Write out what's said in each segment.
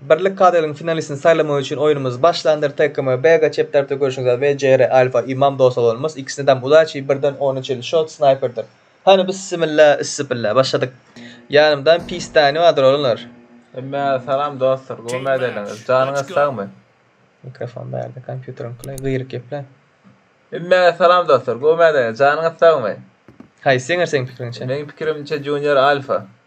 Birlik KDL-iň finalistini saýlamak üçin oýunymyz başlandyr TKM BG çep tarapda görşüňiz az VJR Alfa Imam dos oglanymyz ikisine dam udaçi birden ona çenli şot snaýperdir Hany bissimilla issipilla başladyk Ýanymdan pistani bardyr oglanlar. Hemmä salam dostlar gowy mäzeliňiz janyňyz sagmy. Mikrofon bärde kompýuteriň kylay gyýryk geple. Hemmä salam dostlar gowy mäzeliňiz janyňyz sagmy. Haýsy ýeňer seň pikiriňçe. Meň pikirimçe Junior Alfa.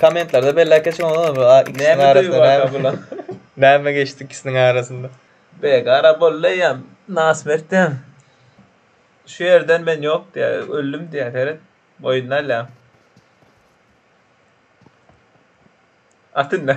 Kommentlarda belläp geçiň oglan bu a ikisiniň arasynda näme näme geçdi ikisiniň arasynda. Begara boldy eýýäm nasmert diýýän. Şu ýerden men ýok diýýär, öldüm diýýär seret. Boýnuny alýar. At indi.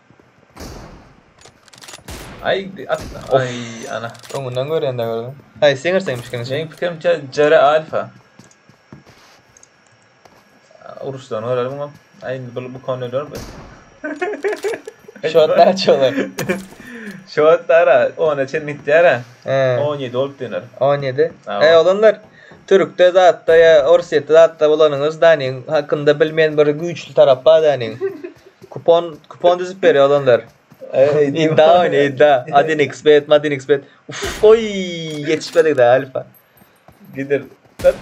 Ay atla. Ay ana. Öňünden görende gördüm. Hay siňir seň fikriň Meň pikirim tä Jere Alfa. Uruşdan görer muňa. Ay indi bu bu konu öler bu. Şot da çolar. Şot dara 10 çen gitdara. 17 olup döner. 17. Ay olanlar. Türkde zatda ýa orsýetde zatda bolanyňyz däniň hakynda bilmeýän bir güýçli tarap bar däniň. Kupon kupon düzüp berýär olanlar. Idda oýny idda. Adinxbet, madinxbet. Uf, oý, ýetişmedik-dä Alfa. Gider. Höp.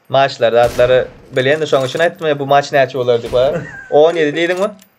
Maçlar zatlary bilýän-de şoň üçin aýtdym ýa bu maç näçe bolar diýip. 17 diýdiňmi?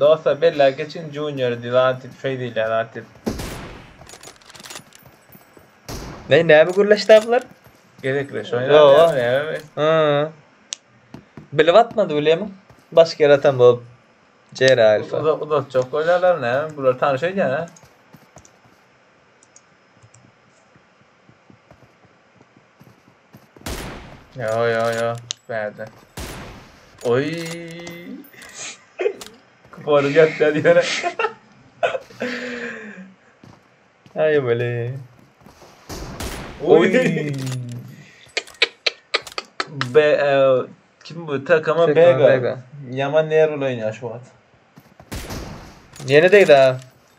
Dostlar belläp geçin Junior Dilan tip şeý diýilýär ha tip. Ne näme gürleşdi bular? Gezekleş oýnar ýa. Ha. Bilip atmady bilemmi? Başga ýere atan bolup. Jere alfa. Uzak uzak çok oýnarlar ne? Bular tanyş öýdýän ha. Ýo ýo ýo bärde. Oý. Kor gep gel ýöne. Aý weli. Oý. Be kim bu takama bega. Yaman nerwli oýnaýar şu wagt. Ýene degdi ha.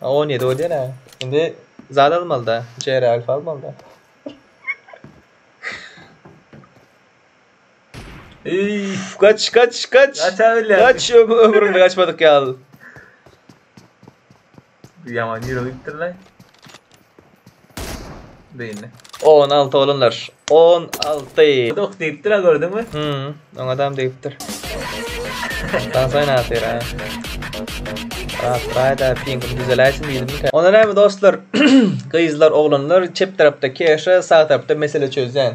On ýedi o diýen-ä. Indi zat almaly-da, içeri alfa almaly-da. Eý, gaç, gaç, gaç. Gaça bilýär. Gaç, öm- ömründe gaçmadyk ýaly. Ýaman ýürek ýitdirler. Beýle. On alty oglanlar. On alty. Dok diýipdir ha gördüňmi? Hmm, oň adam diýipdir. Ondan soň näsir ha. Rat raýda piňim düzeläýsin diýdimkä. Onda näme dostlar? Gyzlar, oglanlar çep tarapda keşe, sag tarapda mesele çözýän.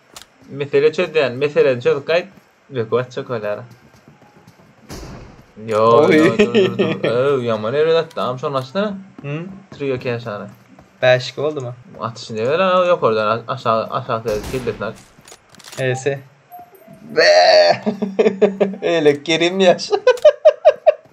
Mesele çözýän, meseleni çözüp gaýt. Ýok, açjak bolýar. Yo, Oy. yo, dur, dur, dur. Öw, ýaman erbet atdy. Am şony açsana. Hı? Trio keşany. Bäşik boldumy? Atyşy ne göre abi ýokardan a- aşağı aşağı seyredip kellesini aç. Ese. Be! Elek gerim yaş.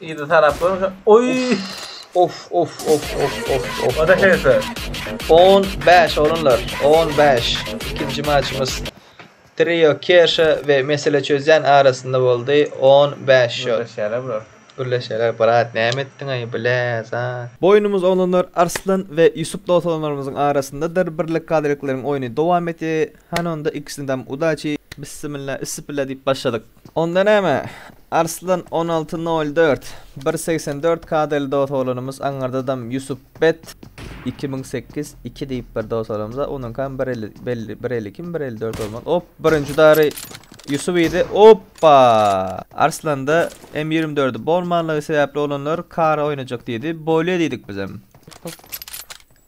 Ýedi tarap görse. Oý! Of of of of of of. Oda şeýse. 15 olanlar, 15. Ikinji maçymyz Trio Keşe we Mesele çözýän arasynda boldy. 15 şut. Gürleşýärler bular. Gürleşýärler brat, näme etdiň aý bile zat. Boýnumyz olanlar Arslan we Ýusup doganlarymyzyň arasyndadyr. Birlik Kadrikleriň oýny dowam etýär. Hany onda ikisine dam udaçi. Bissimilla, issipilla diýip başladyk. Onda näme? Arslan on alty nol dört, bir segsen dört kadeli dosolanymyz aňyrdadam Ýusup bet, iki müň sekiz, iki diýip bir dosolamyza onuňkam bir elli belli bir elli ikimi bir elli dört bolmaly op birinji dary Ýusup idi oppa Arslanda M ýigrimi dördi bolmanlygy sebäpli olanlar kary oýnajak diýdi bolýa diýdik bizem.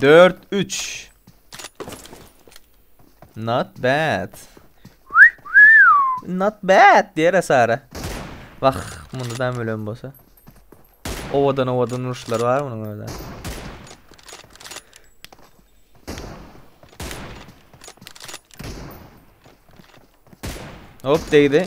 Dört üç. Not bad. Not bad diýere Sara. Wah, munda da ölen bolsa. Owadan owadan uruşlar bar munuň öyle. Hop değdi.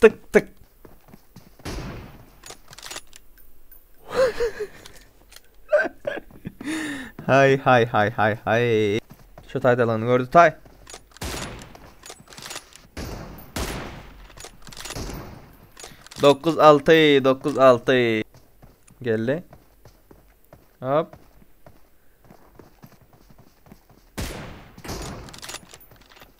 Tyk tyk. Hay hay hay hay hay. Şu taydalanı gördü tay. Dokuz altı, dokuz altı. Geldi. Hop.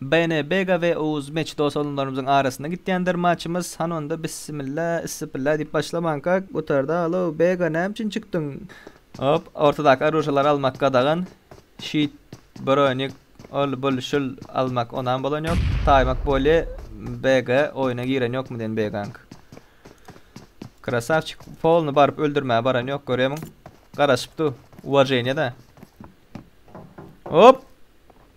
BNBga we Oguz Meç dos alymlarymyzyň arasynda gitýändir maçymyz, hany onda bissimilla, issipilla diýip başlamanka gutarda alow Bega näme üçin çykdyň? Hop, ortadaky oružýalary almak gadagan, şit, bronik, ol, bul, şul almak onam bolan ýok, taýmak bolýa Bega oýuna giren ýokmy diýen Begaňk. Krasawçik polny baryp öldürmäge baran ýok görýämiň, garaşyp dur, uwaženýa da. Hop!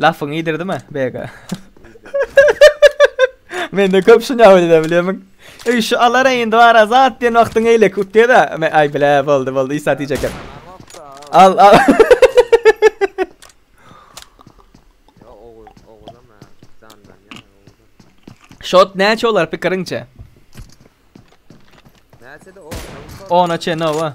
Lafyňy iýdirdimi Bega? Mende köp şuny ýaly edip bilýärmiň? Ey şu alara indi bar azat diýen wagtyň eýle kutýada. Aý bile boldy boldy isa diýjek. Al al. Shot näçe olar pikiriňçe? Näçe de o? Ona çe nova.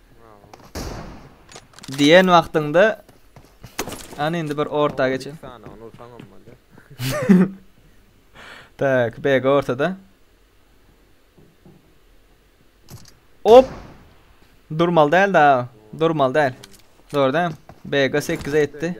Diýen wagtyňda Ana indi bir orta geçen. tak, BG ortada. Hop. Durmal däl da. Durmal däl. Doğru değil mi? BG 8'e etti.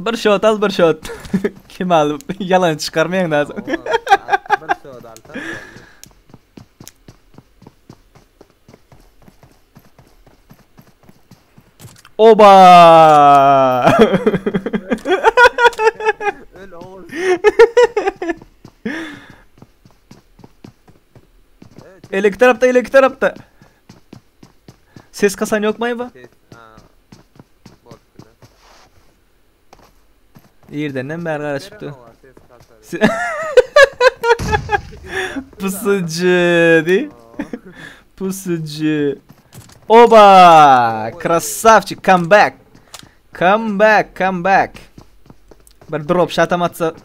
Bir şot al bir şot. Kemal yalan çıkarmayan da. Bir şot al tam. Oba! Öl oğul. Ele iki tarafta, ele iki tarafta. Ses kasan yok mayba. Ses a bolup biler. Irdenem bäri gara çykdy. Pusucu di. Pusucu. Oba! Krasavçik come back. Come back, come back. Bir drop shot amatsa. Bir side.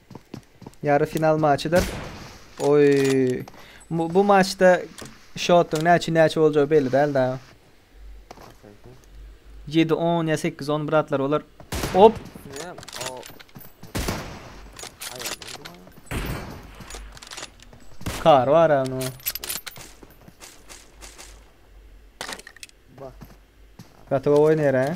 Ýary final maçydyr. Oý. Bu, bu maçda şotuň näçe näçe boljagy belli däl da. 7 10 ýa 8 10 bratlar olar. Hop. Ne? O. Aýa. Kar var ama. Bak. Katova oynar ha.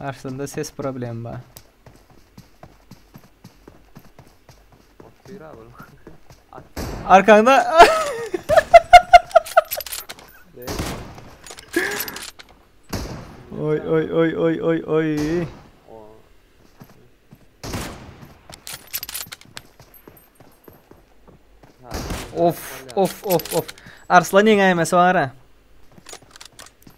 Aslynda ses problemi bar. Otyr abi. Arkaňda. oy oy oy oy oy oy. Of of of of. Arslan ýeňäýmesi bar ha.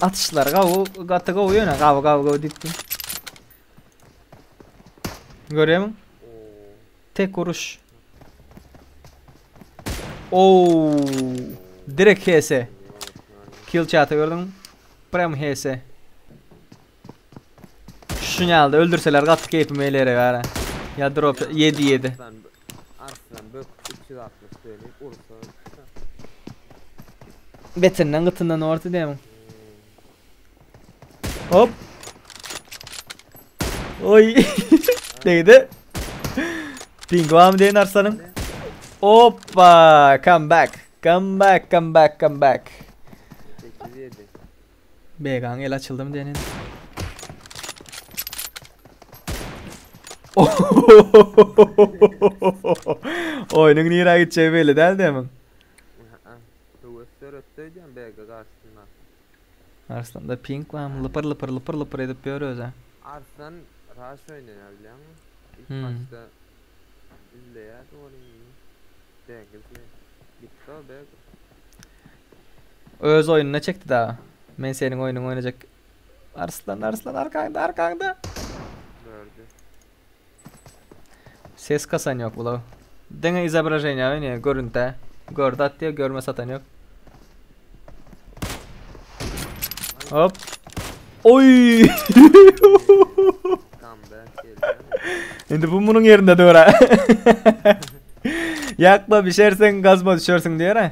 Atışlar gawy, gaty gawy ýöne gawy gawy gawy diýipdi. Görýärmiň? Tek uruş. Oo! Direkt HS. Kill chat'ı gördüm. Prem HS. Şun ýalda öldürseler gaty keýpim eýlere gara. Ya drop 7 7. Arslan, Arslan bök 360 seni ursa. Betinden gytyndan orta demin. Hop. Oy. Değdi. Ping var mı deyin Arslan'ın? Hoppa. Come back. Come back, come back, come back. 8 7. Begaň el açyldymy diýen indi. Oýnuň nirä gitjegi belli däl demiň. Ä-ä. Höwes döretdi öýdýän BG garşysynda. Arslanda ping barmy? Lypyr lypyr lypyr lypyr edip ýör özä. Arslan raş oýnaýar bilýäňmi? İlk Hmm. başda izleýärdi ony indi BG izleýär. Gitdi o BG. Öz oýnuna çekdi dagy. Men seniň oýnuňy oýnajak. Arslan, Arslan arkaňda, arkaňda. Nerede? Ses kasan yok bulaw. Dene izobraženiýa oýnaýar, görüntide. Gördi atýar, görme satan yok. Hop. Indi bu munuň ýerinde dur. Ýakma bişersiň, gazma düşersiň diýer.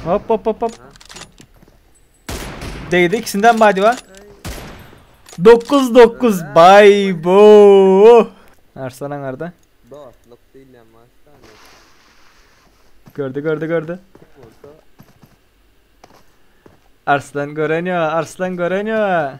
Hop hop hop hop. Değdi ikisinden bay diva. 9 9 bay bo. Arslan angarda. Dostluk diýilýän maşda. Gördü gördü gördü. Arslan gören ya, Arslan gören ya.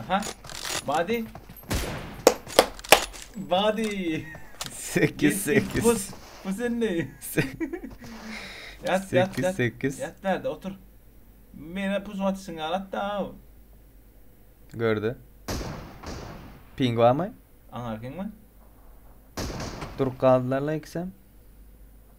Aha. Body. Body. 8 8. Pus. Bu sen ne? Yat yat 8 yat. 8. Yat nerede otur. Mene pus atışın alat da. av. Gördü. Ping barmy? Aňarken mi? Durup galdylar la ikisem.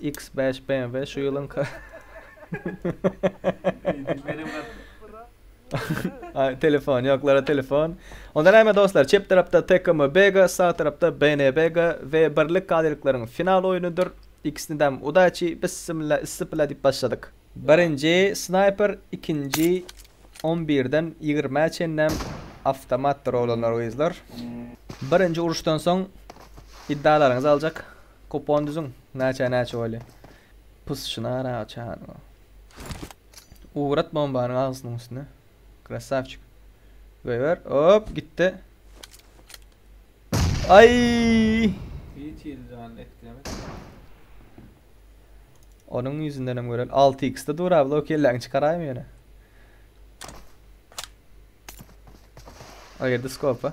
X5 BMW şu ýylyňka. Ay telefon ýoklara telefon. Onda näme dostlar? Çep tarapda TKM Bega, sag tarapda BN Bega we birlik galylyklaryň final oýnudyr. İkisini de udaçi bismillah issipila diýip başladyk. Birinji snayper, ikinji 11-den 20-ä çenlem awtomatdyr oglanlar gyzlar. Birinji uruşdan soň iddalaryňyzy aljak. Kupon düzüň näçä näçe bolýa. Pysşyny ara çagyryň. Ugrat bombanyň agzysynyň üstüne. Krasavçik. Goýber. Hop gitdi. Ay! Hiç ýeri jany etkilemedi. Onuň ýüzünden hem görel. 6x-de dur abi, o kelläňi çykaraýmy ýöne? Aýyrdy skopa.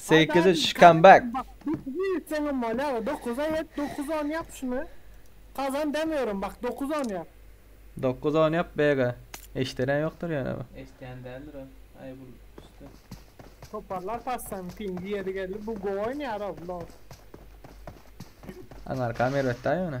Sekiz iç comeback. Seňem bolýar. Dokuz aý et, dokuz on ýap şuny. Kazan demiyorum bak, dokuz on ýap. Dokuz on ýap bega. Eşderen ýokdur ýöne bu. Eşdýän däldir o. Aý bul düşdi. Toparlar passan pingi ýeri geldi. Bu gowy oýnaýar-ow, lol. Aňarkam erbetdä ýöne.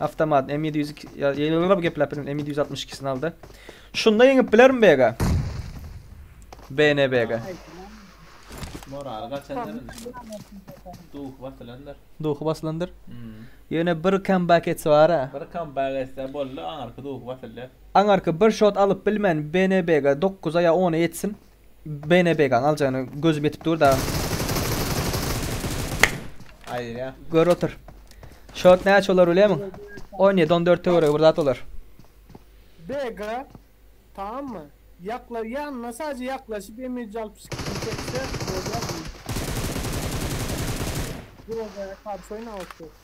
Awtomat M ýedi ýüz iki sini aldy. Şunda ýeňip bilermi Bega? BNBG. Moraly gaçandyr indi. Duhy basylandyr. Duhy basylandyr. Ýöne bir kambek etse bara. Bir kambek etse boldy, aňyrky duhy basylýar. Aňyrky bir şot alyp bilmän BNBG dokuza ýa ona ýetsin. BNBG-ň aljagyna gözüm ýetip dur dagy. Aýdýa. Gör otur. Şot näçe bolar bilýärmiň? 17 14 töweregi bir zat bolar. BG tammy? Ýakla ýanyna sadece ýaklaşyp emilji alyp çykyp çekse bolýar. Groza'ya karşy oýnap otyrys.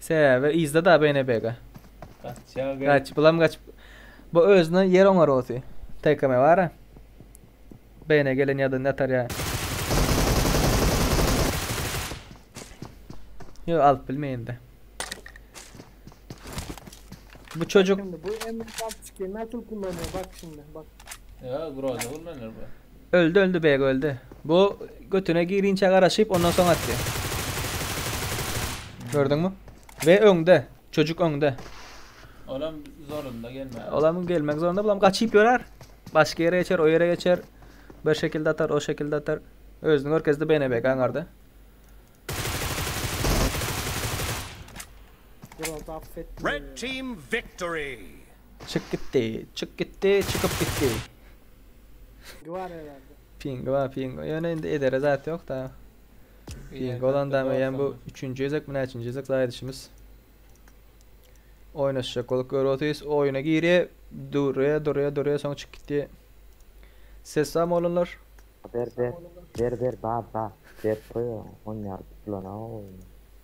Sebäbi yzda da Bene Bege. Gaçýar gelip. Gaç, bulam gaçyp. Bu özüne ýer oňar osi. TKM bara. Bene gelen ýadan ýatar ýa. Yo alyp bilmeýin de. Bu çocuk Şimdi bu M66 nasıl kullanıyor bak şimdi bak. Ya groza kullanır bu. Öldi öldi beg öldi. Bu götüne girinçä garaşyp ondan soň atdy. Gördüňmi? Ve öňde. Çocuk öňde. Olam zorunda gelmez. Olam gelmek zorunda bulam gaçyp ýörer. Başga ýere geçer, o ýere geçer. Bir şekilde atar, o şekilde atar. Özüni görkezdi Bene beg aňarda. Red team victory. Çyk gitdi, çyk gitdi, çykyp gitdi. Pingi bar herhalde. Pingi bar pingi. Ýöne indi edere zat ýok da. Pingi bolan da meýem bu 3-nji gezek mi näçinji gezek zaýdyşymyz. Oýnaşjak bolup görüp otyrys. Oýuna girýär, durýar, durýar, durýar, soň çykyp gitýär. Ses barmy oglanlar? Ber ber. Ber ber bar bar. Berip goýa on ýarym pulana oýun.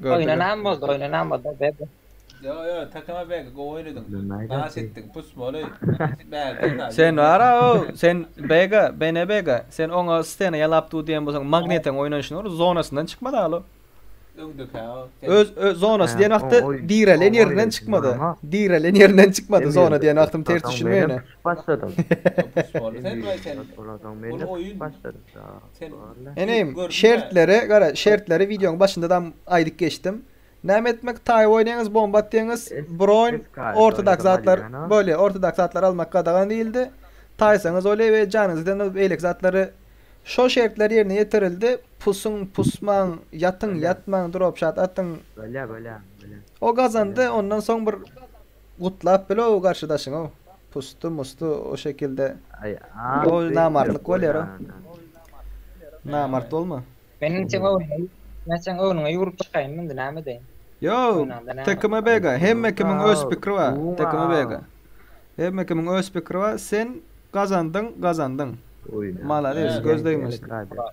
Gördüler. Oýnanam boldy, oýnanam boldy bebe. Ýo ýo Takama beg gowy oýnadyň. Nas etdiň pus boli bärde da. Sen bara o sen bega bene bega sen oňa stena ýalap dur diýen bolsaň magnetiň oýnanyşyny gör zonasyndan çykmady al o. Öňdükä o. Öz öz zonasy diýen wagty direlen ýerinden çykmady. Direlen ýerinden çykmady zona diýen wagtym ters düşünme ýöne. Başladyň. Pus boli sen we sen. Ol oýun. Sen Eneýim, gördüň-ä. şertleri, gara, şertleri wideoň başyndadam aýdyp geçdim. Näme etmek, taýy oýnaýyňyz, bomba atýaňyz, Es- broň, es kayt, ortodoks oýnadym zatlar, alýana. bolýa, ortodoks zatlar almak gadagan diýildi. Taýsaňyz bolýa we janyňyzy eden o beýleki zatlary Şol şertler ýerine ýetirildi. Pusuň, pusmaň, ýatyň, Bolýa. ýatmaň, dropshot atyň. Bolýa, bolýa, bolýa. O gazandy, ondan soň bir Gutlap bilow garşydaşyňow pusty musty o şekilde Aý aman Oý söýüp ýör namartlyk goý bolýar o. ýaňadan. Namart bolma. Men indi seň öňüňe men seň öňüňe ýüwrüp çykaýynmy indi näme edeýin. Ýow Oýnaňda näme bar. Tekime Bega hemme kimiň öz Aýtgulymsow pikiri bar guwuň Tekime Bega. a. Hemme kimiň öz pikiri bar sen gazandyň gazandyň. Oýna. Malades Ýöne göz gelin degmesin. elek radio.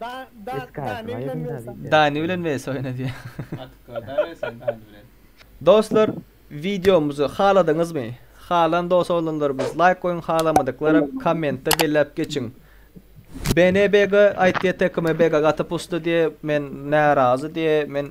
Da da Eski da aýdymy ne bilen aýdyň-da versen. diýse. Dani bilen wes oýna diýýär. Atyka da bersen Dani bilen. Dostlar wideomyzy haladyňyzmy? Halan dos olanlarymyz laýk goýuň halamadyklara kommentde belläp geçiň. BNBG aýtýa TKMBG gaty pusty diýe men närazy diýe men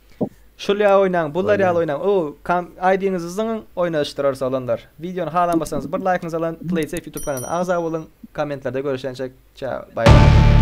Şul ýaly oýnaň, bular ýaly oýnaň. O, kam, ID-ňizi zyňyň, oýnaşdyrarys oglanlar. Wideony halanmasaňyz bir laýkyňyzy alan, PlaySafe YouTube kanalyna agza boluň, kommentlerde görüşençek, çao, baý baý.